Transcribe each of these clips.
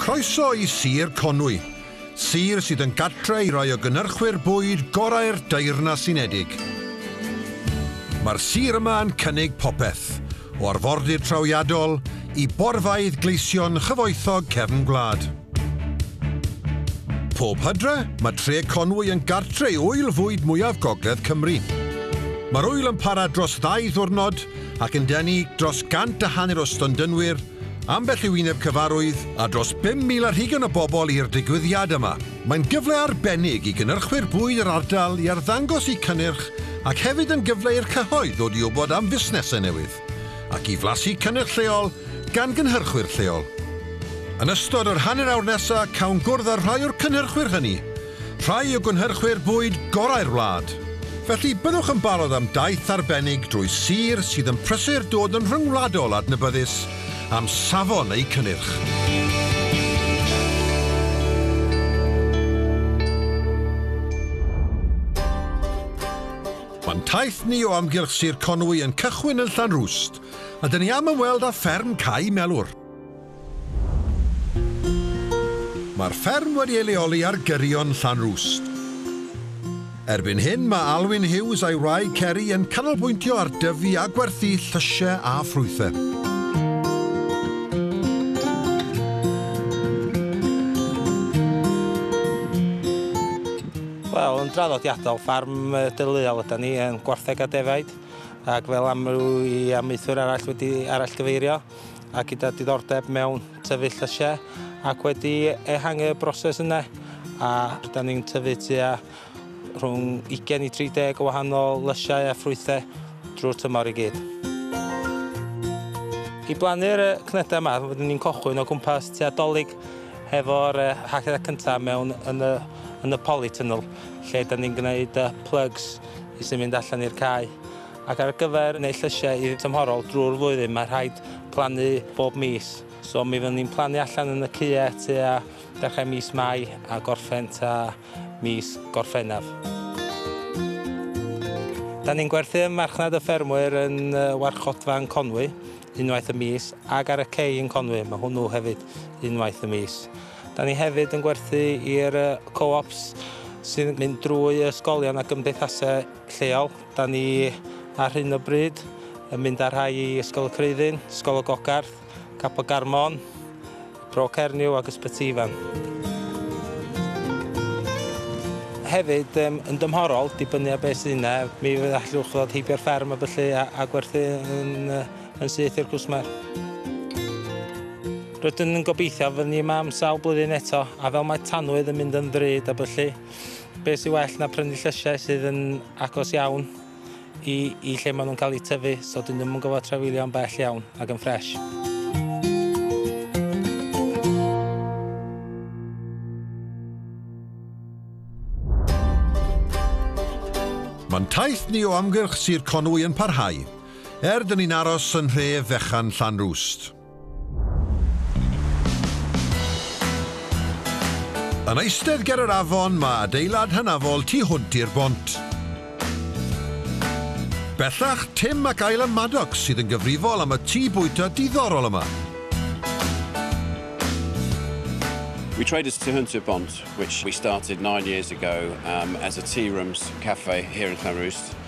Croeso i Sir Conwy, sir sydd yn gartre i rai o gynyrchwyr bwyd gorau'r Deyrnas Unedig. Mae'r sir yma yn cynnig popeth, o arfordir trawiadol i borfeydd gleision chyfoethog cefn gwlad. Pob hydre, mae Tre Conwy yn gartre i ŵyl fwyd mwyaf gogledd Cymru. Mae'r ŵyl yn para dros ddau ddiwrnod ac yn denu dros gant a hanner o stondynwyr, ambell i wyneb cyfarwydd a dros 5,000 ar hugain o bobl i'r digwyddiad yma. Mae'n gyfle arbennig i gynyrchwyr bwyd yr ardal i arddangos eu cynnyrch ac hefyd yn gyfle i'r cyhoedd ddod i wybod am fusnesau newydd ac i flasu cynnyrch lleol gan gynhyrchwyr lleol. Yn ystod yr hanner awr nesaf cawn gwrdd â rhai o'r cynhyrchwyr hynny rhai o gynhyrchwyr bwyd gorau'r wlad. Felly, byddwch yn barod am daith arbennig drwy sir sydd yn prysur dod yn rhyngwladol adnabyddus am safon eu cynnyrch. Mae'n taith ni o amgylch Sir Conwy yn cychwyn yn Llanrwst, a dyn ni am ymweld â fferm Cau Melwr. Mae'r fferm wedi ei leoli ar gyrion Llanrwst. Erbyn hyn mae Alwyn Hughes a'i wraig Ceri yn canolbwyntio ar dyfu a gwerthu llysiau a ffrwythau. Wel, yn draddodiadol, ffarm deuluol ydan ni yn gwartheg a defaid ac fel amryw i amaethwyr arall wedi arallgyfeirio, a gyda diddordeb mewn tyfu llysiau ac wedi ehangu y broses yna a rydyn ni'n tyfu tua rhwng 20 i 30 o wahanol lysiau a ffrwythau drwy'r tymor i gyd. I blannu'r cnydau yma, rydyn ni'n cochwyn o gwmpas tua dolyg hefo'r hacedau cyntaf mewn yn y, yn y polytunnel, lle da ni'n gwneud plugs i sy'n mynd allan i'r cae. Ac ar gyfer gwneud llysiau i'r tymhorol drwy'r flwyddyn mae rhaid plannu bob mis. So mi fyddwn ni'n plannu allan yn y cye tua dechrau mis Mai a gorffen tua mis Gorffennaf. Da ni'n gwerthu ym marchnad y ffermwyr yn warchodfa yn Conwy unwaith y mis ac ar y cei yn Conwy, mae hwnnw hefyd unwaith y mis. Da ni hefyd yn gwerthu i'r co-ops sy'n mynd drwy ysgolion a gymdeithasau lleol. Da ni ar hyn o bryd yn mynd â rhai i Ysgol y Creuddyn, Ysgol y Gogarth, Cap y Garmon, Bro Cernyw ac Ysbyty Ifan. Hefyd, um, yn dymhorol, dibynnu ar beth sydd yna, mi fydd allwch ddod heibio'r fferm a byllu a, a gwerthu yn, yn syth i'r cwsmer. Rydyn yn gobeithio fy ni yma am sawl blwyddyn eto, a fel mae tanwydd yn mynd yn ddrud a byllu, Be sy'n well na prynu llysiau sydd yn agos iawn i, i lle maen nhw'n cael eu tyfu, so dyn nhw'n gofod trafeilio'n bell iawn ac yn ffres. Mae'n taith ni o amgylch Sir Conwy yn parhau, er dyn ni'n aros yn nhref fechan Llanrwst. Yn eistedd ger yr afon mae adeilad hynafol tu hwnt i'r bont. Bellach, Tim ac Isla Maddox sydd yn gyfrifol am y tŷ bwyta diddorol yma. We tried as to Hunter Bont, which we started nine years ago um, as a tea rooms cafe here in Llanrwst.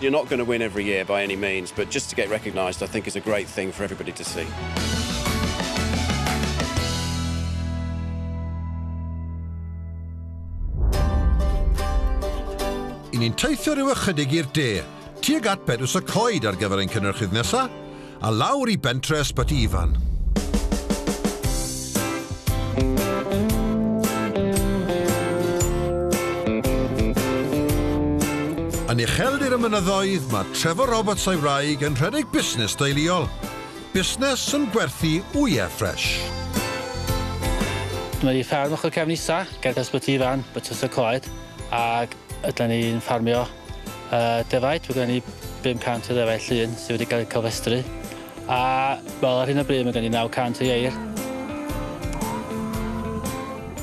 You're not going to win every year by any means, but just to get recognised I think is a great thing for everybody to see. ni'n teithio rhyw ychydig i'r de, tuag at Bedws y Coed ar gyfer ein cynnyrchydd nesaf. A lawr i bentre Ysbyty Ifan. Yn ucheldir y mynyddoedd, mae Trevor Roberts a'i wraig yn rhedeg busnes deuluol. Busnes yn gwerthu wyau ffres. Mae ni fferm ochr cefn isa, ger Ysbyty Ifan, Bytws y Coed, ac ydan ni'n ffarmio Uh, defaid, mae gen ni 500 o ddefaid llun sydd wedi cael eu cofestru. A wel, ar hyn o bryd mae gen i 900 o ieir.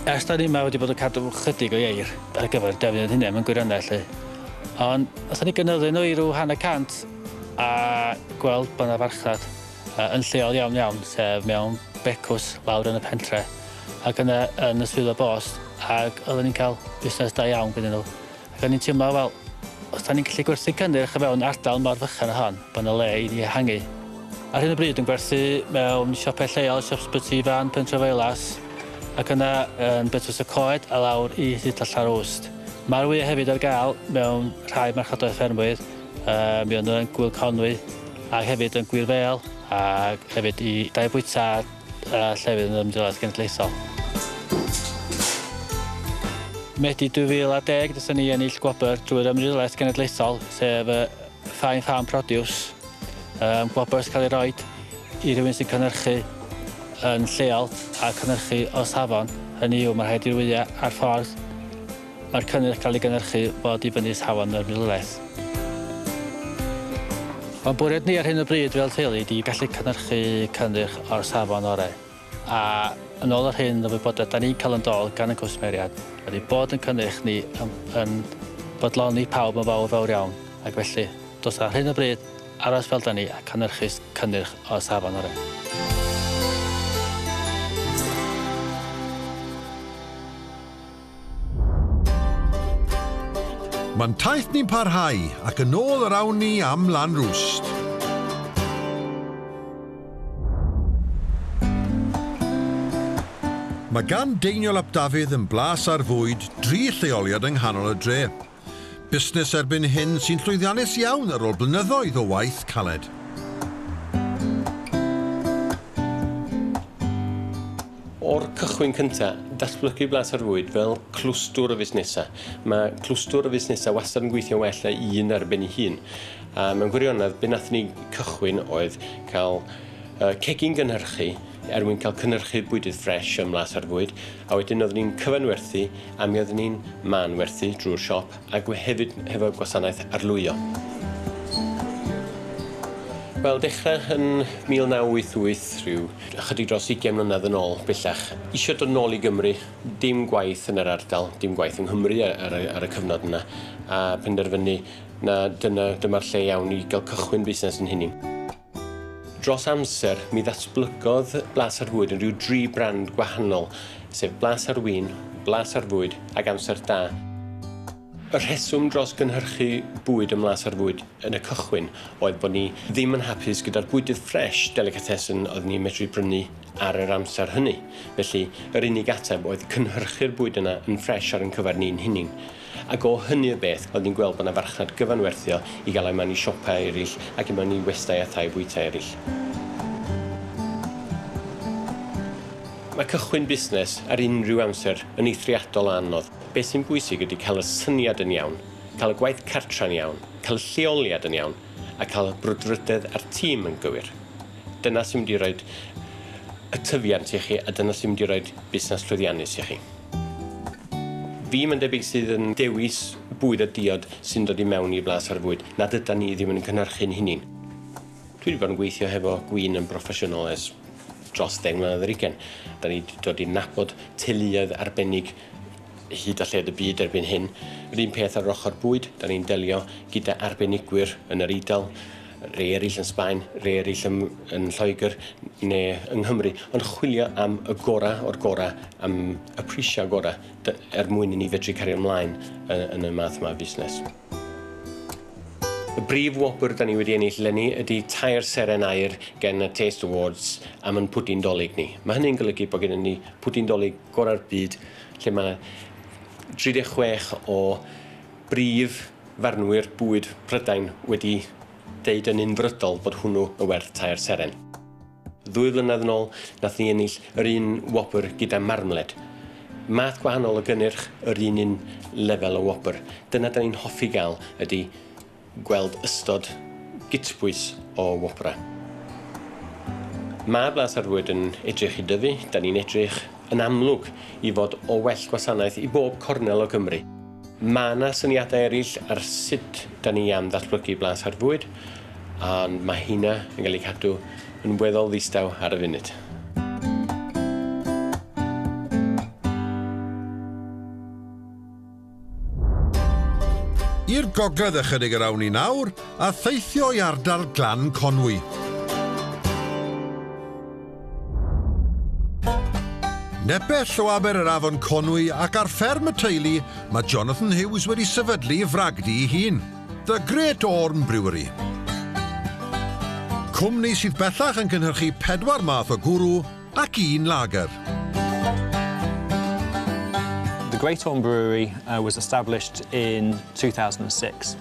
Ers da ni yma wedi bod yn cadw chydig o ieir ar gyfer defnydd hynny mewn gwirionedd lle. Ond os ni gynyddu nhw i rhyw hanner cant a gweld bod yna farchnad uh, yn lleol iawn iawn, sef mewn becws lawr yn y pentre ac yna yn y swyddfa bost ac oedden ni'n cael busnes da iawn gyda nhw. Ro'n i'n teimlo fel, os 'da ni'n gallu gwerthu cynnyrch o fewn ardal mor fychan â hon, bod 'na le i ni ehangu. Ar hyn o bryd yn gwerthu mewn siopau lleol, siop Sbyty Fan, Pentre Feilas, ac yna yn Betws y Coed a lawr i Hyd Allar Awst. Mae'r wyau hefyd ar gael mewn rhai marchodoedd ffermwyr, um, mi o'n nhw yn Gwyl Conwy, ac hefyd yn Gwir Fel, ac hefyd i Dai Bwyta a llefydd yn yr Ymddiriedolaeth Genedlaethol. Medi 2010, dethon ni ennill gwobr drwy'r Ymddiriedolaeth Genedlaethol, sef y Fine Farm Produce, um, gwobr sy'n cael ei roed i rywun sy'n cynnyrchu yn lleol a cynnyrchu o safon. Hynny yw, mae rhaid i'r wyliau a'r ffordd Mae'r cynnyrch cael ei gynhyrchu fod i fyny Safon yr Milwraeth. Mae'n bwriad ni ar hyn o bryd fel teulu ydi gallu cynhyrchu cynnyrch o'r safon orau, a yn ôl yr hyn o wybodaeth da ni'n cael yn dol gan y cwsmeriad ydi bod yn cynnyrch ni yn yn bodloni pawb yn fawr fawr iawn ac felly dos ar hyn o bryd aros fel da ni a cynhyrchu cynnyrch o'r safon orau. Mae'n taith ni'n parhau, ac yn ôl yr awn ni am lan rwst. Mae gan Deiniol ap Dafydd yn blas ar fwyd dri lleoliad yng nghanol y dre. Busnes erbyn hyn sy'n llwyddiannus iawn ar ôl blynyddoedd o waith caled. O'r cychwyn cyntaf, datblygu Blas ar Fwyd fel clwstwr o fusnesau. Mae clwstwr o fusnesau wastad yn gweithio'n well na un ar ben ei hun. A mewn gwirionedd, be wnaethon ni cychwyn oedd cael cegin gynhyrchu, er mwyn cael cynhyrchu bwydydd ffresh ym Mhlas ar Fwyd, a wedyn oeddwn i'n cyfanwerthu a mi oeddwn i'n manwerthu drwy'r siop ac hefyd hefo gwasanaeth arlwyo. Wel, dechrau yn 1988, rhyw ychydig dros ugain mlynedd yn ôl bellach, isio dod nôl i Gymru, dim gwaith yn yr ardal, dim gwaith yng Nghymru ar y, ar y cyfnod yna, a penderfynu na dyna, dyma'r lle iawn i gael cychwyn busnes yn hunin. Dros amser, mi ddatblygodd Blas ar Fwyd yn rhyw dri brand gwahanol, sef Blas ar Win, Blas ar Fwyd ac Amser Da. Y rheswm dros gynhyrchu bwyd ym Mhlas ar Fwyd yn y cychwyn oedd bod ni ddim yn hapus gyda'r bwydydd ffresh, delicatessen, oedd ni'n medru prynu ar yr amser hynny. Felly, yr unig ateb oedd cynhyrchu'r bwyd yna yn ffresh ar ein cyfer ni'n hunin. Ac o hynny y beth, oedd hi'n gweld bod 'na farchnad gyfanwerthiol i gael e mewn i siopau eraill ac i mewn i westai a thai bwytai eraill. Mae cychwyn busnes ar unrhyw amser yn eithriadol o anodd. Beth sy'n bwysig ydy cael y syniad yn iawn, cael y gwaith cartre'n iawn, cael y lleoliad yn iawn a cael y brwdfrydedd a'r tîm yn gywir. Dyna sy'n mynd i roid y tyfiant i chi a dyna sy'n mynd i roid busnes llwyddiannus i chi. Fi mae'n debyg sydd yn dewis bwyd a diod sy'n dod i mewn i Blas ar Fwyd nad ydan ni ddim yn cynhyrchu'n hunin. Dwi wedi bod yn gweithio hefo gwin yn broffesiynol ers dros ddeng mlynedd ar ugen. Da ni wedi dod i nabod teuluoedd arbennig hyd a lled y byd erbyn hyn. Yr un peth ar yr ochr bwyd, da ni'n delio gyda arbenigwyr yn yr Eidal, rhei eraill yn Sbaen, rhei eraill yn, yn Lloegr neu yng Nghymru, ond chwilio am y gorau o'r gorau, am y prisiau gorau, er mwyn i ni fedru cario ymlaen yn y math yma o fusnes. Y brif wobr da ni wedi ennill lenni ydy tair seren aur gen y Taste Awards am yn pwdin dolyg ni. Mae hynny'n golygu bod gennym ni pwdin dolyg gorau'r byd lle mae 36 o Brif farnwyr bwyd Prydain wedi deud yn unfrydol bod hwnnw yn werth tair seren. Ddwy flynedd yn ôl, nath ni ennill yr un wobr gyda marmled. Math gwahanol o gynnyrch, yr un un lefel o wobr. Dyna 'dan ni'n hoffi gael ydi gweld ystod gytbwys o wobrau. Mae Blas ar Fwyd yn edrych i dyfu, 'dan ni'n edrych yn amlwg i fod o well gwasanaeth i bob cornel o Gymru. Mae 'na syniadau eraill ar sut 'da ni am ddatblygu Blas ar Fwyd, ond mae hynna yn cael ei cadw yn weddol ddistaw ar y funud. I'r gogledd ychydig yr awn ni nawr, a theithio i ardal Glan Conwy. Nepell o aber yr afon Conwy ac ar fferm y teulu, mae Jonathan Hughes wedi sefydlu fragdy i hun, The Great Orme Brewery. Cwmni sydd bellach yn cynhyrchu pedwar math o gwrw ac un lager. Great Orme Brewery uh, was established in 2006.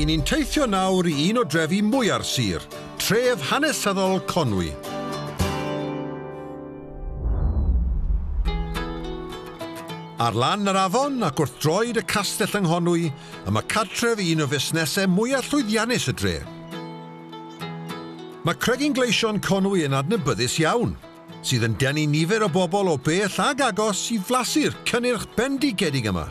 I ni'n teithio nawr i un o drefi mwya'r sir, tref hanesyddol Conwy. Ar lan yr afon ac wrth droed y castell yng Nghonwy, y mae cartref un o fusnesau mwyaf llwyddiannus y dre. Mae Cregyn Gleision Conwy yn adnabyddus iawn, sydd yn denu nifer o bobl o bell ag agos i flasu'r cynnyrch bendigedig yma.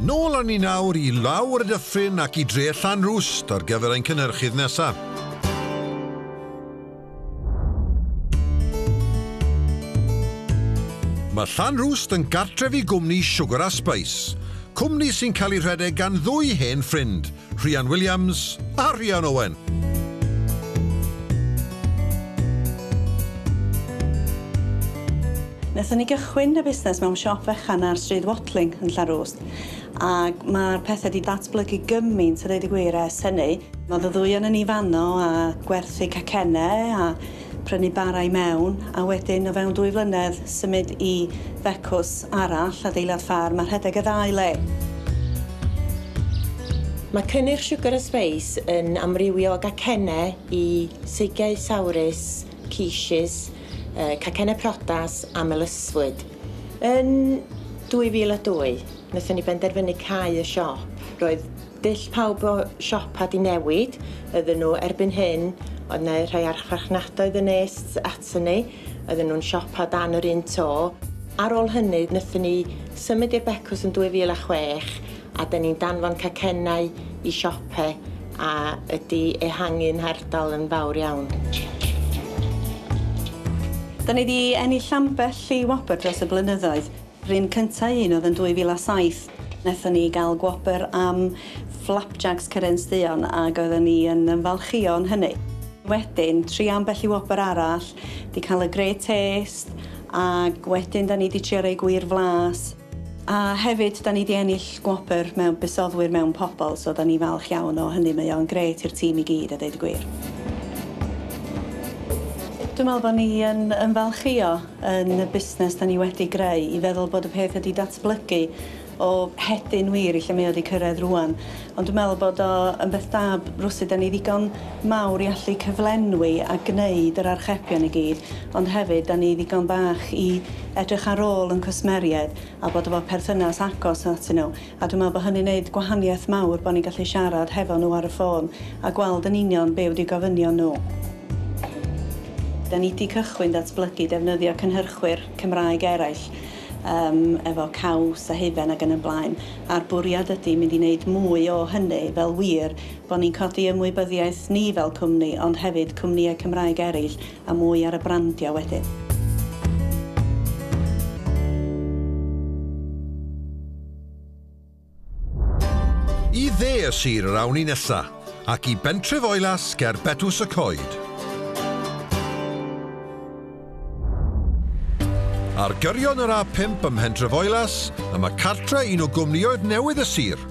Nôl â ni nawr i lawr y dyffryn ac i dre Llanrwst ar gyfer ein cynhyrchydd nesaf. Mae Llanrwst yn gartref i gwmni Sugar a Spice, cwmni sy'n cael ei rhedeg gan ddwy hen ffrind, Rhian Williams a Rhian Owen. Wnaethon ni gychwyn y busnes mewn siop fechan ar Stryd Watling yn Llanrwst ac mae'r pethau wedi datblygu gymaint a dweud y gwir ers hynny. Oedd y ddwy ohonon ni fanno a gwerthu cacennau a prynu bara i mewn, a wedyn o fewn dwy flynedd symud i fecws arall, adeilad ffarm a rhedeg y ddau le. Mae cynnyrch Sugar and Space yn amrywio o gacennau i seigiau sawrus, quiches, cacennau priodas a melysfwyd. Yn 2002, wnaethon ni benderfynu cau y siop. Roedd Dull pawb o siopa 'di newid ydyn nhw erbyn hyn oedd 'ne rhai archfarchnadoedd yn nes atyn ni oedden nhw'n siopa dan yr un to ar ôl hynny nethon ni symud i'r becws yn 2006 a 'dyn ni'n danfon cacennau i siope a ydi ehangu'n hardal yn fawr iawn. 'Dyn ni 'di ennill ambell i wobr dros y blynyddoedd. Run cynta un oedd yn 2007, naethon ni ga'l gwobr am Flapjacs Cyraeans Duon ag oedden ni yn ymfalchïo yn hynny. Wedyn, trio ambell i wobr arall, 'di ca'l y Great Taste ag wedyn 'da ni 'di trio rei gwir flas. A hefyd 'da ni 'di ennill gwobr mewn busoddwyr mewn pobol so 'da ni falch iawn o hynny mae o'n grêt i'r tîm i gyd a deud y gwir. Dwi me'wl bo' ni yn ymfalchïo. yn y busnes da ni wedi greu i feddwl bod y peth wedi datblygu o hedyn wir i lle mae o wedi cyrraedd rwan. Ond dwi'n meddwl bod o yn beth da rwsud da ni ddigon mawr i allu cyflenwi a gwneud yr archebion i gyd ond hefyd da ni ddigon bach i edrych ar ôl yn cwsmeriaid a bod efo perthynas agos atyn nhw. A dwi'n meddwl bod hynny'n neud gwahaniaeth mawr bod ni'n gallu siarad hefo nhw ar y ffôn a gweld yn union be wdi gofynion nhw. Da ni di cychwyn datblygu defnyddio cynhyrchwyr Cymraeg eraill yym efo Caws a Hufen ag yn y blaen a'r bwriad ydi mynd i neud mwy o hynny fel wir bod ni'n codi ymwybyddiaeth ni fel cwmni ond hefyd cwmnïau Cymraeg eraill a mwy ar y brandio wedyn. I dde y sir yr awn ni nesa, ac i bentref Oilas ger Betws y Coed. Ar gyrion yr A5 ym Mhentref Oilas, y mae cartre un o gwmnioedd newydd y sir,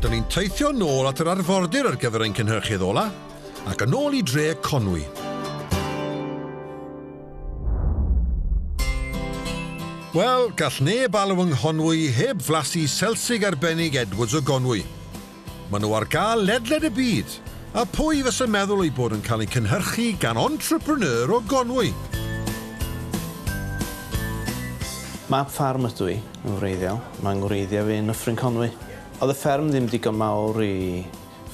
Dyn ni'n teithio nôl at yr arfordir ar gyfer ein cynhyrchydd ola, ac yn ôl i dre Conwy. Wel, gall neb alw yng Nghonwy heb flasu selsig arbennig Edwards o Gonwy. Maen nhw ar gael ledled y byd, a pwy fysa meddwl eu bod yn cael eu cynhyrchu gan entrepreneur o Gonwy? Mab ffarm ydw i, yn wreiddiol. Mae 'ngwreiddiau fi yn Nyffryn Conwy. Oedd y fferm ddim digon mawr i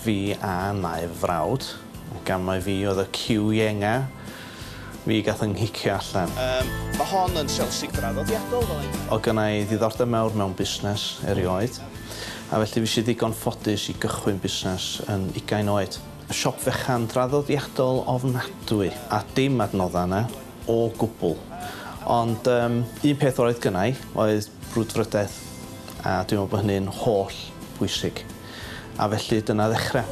fi a nai fy frawd, ac am mai fi oedd y ciw ienga, fi gath 'y nghicio allan. Yym, ma' hon yn Chelsea draddodiadol fel ein. O'dd gynna i ddiddordeb mawr mewn busnes erioed, a felly fues i ddigon ffodus i gychwyn busnes yn ugain oed. Siop fechan draddodiadol ofnadwy, a dim adnoddau yna o gwbl. Ond yym, un peth oedd gynna i oedd brwdfrydedd, a dwi'n meddwl bod hynny'n holl bwysig. A felly dyna ddechrau.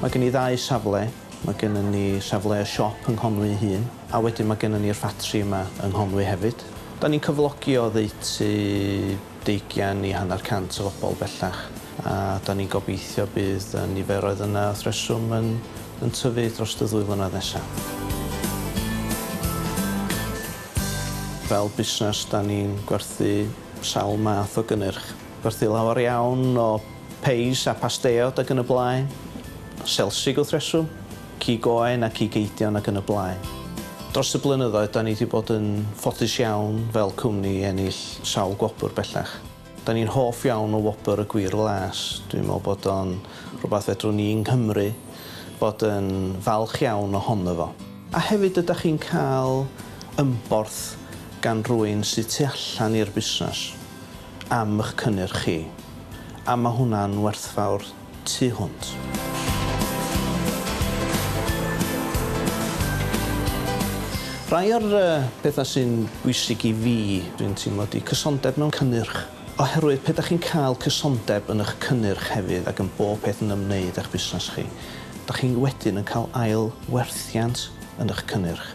Mae gen i ddau safle, mae gennym ni safle y siop yng Nghonwy ei hun, a wedyn mae gennym ni'r ffatri yma yng Nghonwy hefyd. Dan ni'n cyflogi oddeutu deugian i hanner cant o fobl bellach, a dan ni'n gobeithio bydd y niferoedd yna wrth reswm yn yn tyfu dros y ddwy flynedd nesaf. Fel busnes, da ni'n gwerthu sawl math o gynnyrch. Gwerthu lawer iawn o peis a pasteiod ac yn y blaen, selsig wrth reswm, cig oen a cig eidion ac yn y blaen. Dros y blynyddoedd, da ni 'di bod yn ffodus iawn fel cwmni i ennill sawl gwobr bellach. Dan ni'n hoff iawn o wobr y Gwir Las. Dwi'n meddwl bod o'n rhywbeth fedrwn ni yng Nghymru fod yn falch iawn ohono fo. A hefyd ydach chi'n cael ymborth gan rywun sydd tu allan i'r busnes am 'ych cynnyrch chi, a ma' hwnna'n werthfawr. tu hwnt. Rhai o'r pethau sy'n bwysig i fi, dwi'n teimlo, ydy cysondeb mewn cynnyrch. Oherwydd pe dach chi'n cael cysondeb yn eich cynnyrch hefyd ac yn bob peth yn ymwneud â'ch busnes chi, dach chi wedyn yn cael ail werthiant yn eich cynnyrch,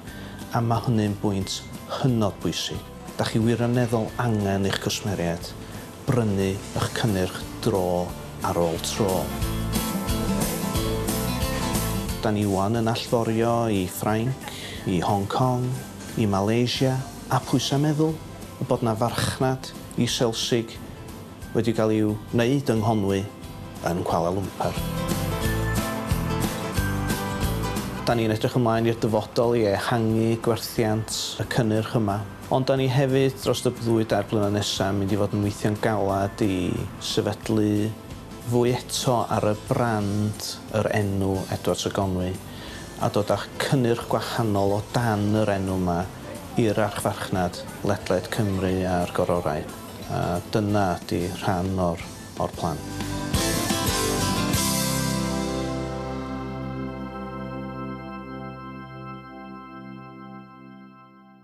a mae hynny'n bwynt hynod bwysig. Dach chi wirioneddol angen eich cwsmeriaid brynu ych cynnyrch dro ar ôl tro. Da ni ŵan yn allforio i Ffrainc, i Hong Kong, i Malaysia, a pwysau meddwl y bod 'na farchnad i Selsig wedi cael i'w wneud yng Nghonwy yn Kuala Lumpur. Da ni'n edrych ymlaen i'r dyfodol i ehangu gwerthiant y cynnyrch yma. Ond dan ni hefyd dros y ddwy dair blynedd nesaf yn mynd i fod yn weithio'n galed i sefydlu fwy eto ar y brand, yr enw Edwards a Gonwy, a dod â cynnyrch gwahanol o dan yr enw yma i'r archfarchnad ledled Cymru a'r gororau, a dyna ydy rhan o'r o'r plan.